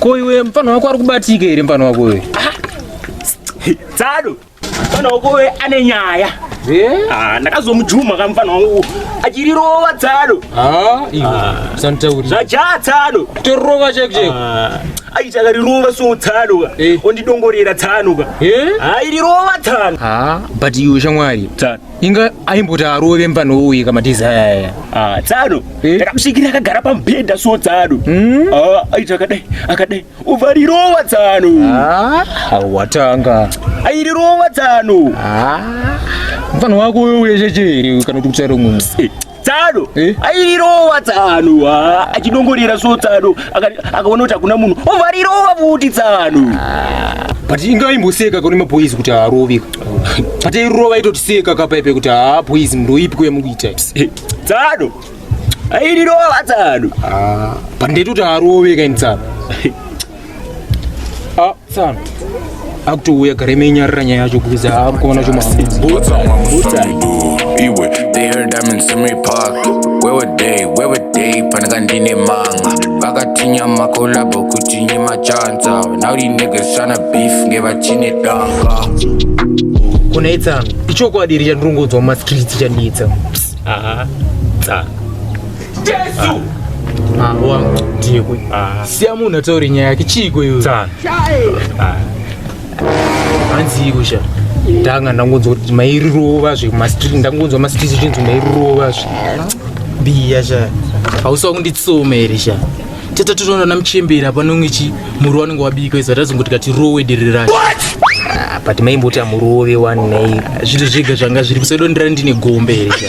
Ko iwe mfana wako ari kubatika here mfana wako uyu? Tsado. Mfana wako uyu ane nyaya. Eh? Ah, ndakazomujuma ka mfana wangu achirirova tsado. Ah, iwe. Ah. Santauri. Zvajaha tsado. Torova chek chek. Ah. Aita karirova so tsado ka. Eh. Ondidongorera tsano ka. Eh? Ah, irirova tsano. Ah, but iwe shamwari. Tsano. inga aimboti arove mvana uye kamatizi ayaya ah, tsano eh? takamusvikira akagara pamubhedha so tsano hmm? ah, aiti akadai akadai ubva rirova tsano ah, watanga airirova tsano mfana wako uye checheri kana kuti kutsara umwe eh, tsano eh? airova tsano achidongorera so tsano akaona kuti hakuna munhu obva rirova futi tsano ah. but inga imboseka kune mapoizi kuti haarovi but irova itotiseka kapaipe kuti haa poizi ndoipi kuya mukuita eh, tsano airirova tsano ah, but ndaitoti haaroveka ini tsano Ah, tsano akutouya gare menyarira nyaya yacho kuza akuona chomaiwe panaka ndine manga vakatinya makolabo kuti nye machanza naurinegeshana beef ngevachine danga kune tsano ichokwadi iri chandirongonzwa mumastreets chandiitsa tsano Jesu! Ah, wangu ndiyekwe. Ah. Siya munhu ataure nyaya yake chiiko iwe. Tsana. Ah. Hanzi iko sha. Ndanga ndangonzwa kuti mairirova zve mastreet ndangonzwa mastreet chinzi mairirova zve. Biya sha. Hausa kunditsoma here sha. Tete tunoona namuchembera panonge chi muru wanenge wabika izvo ratazongoti kati rowe diri racho. Ah, but maimboti amurove wani nei zviri zvega zvanga zviri kusedo ndira ndine gombe here cha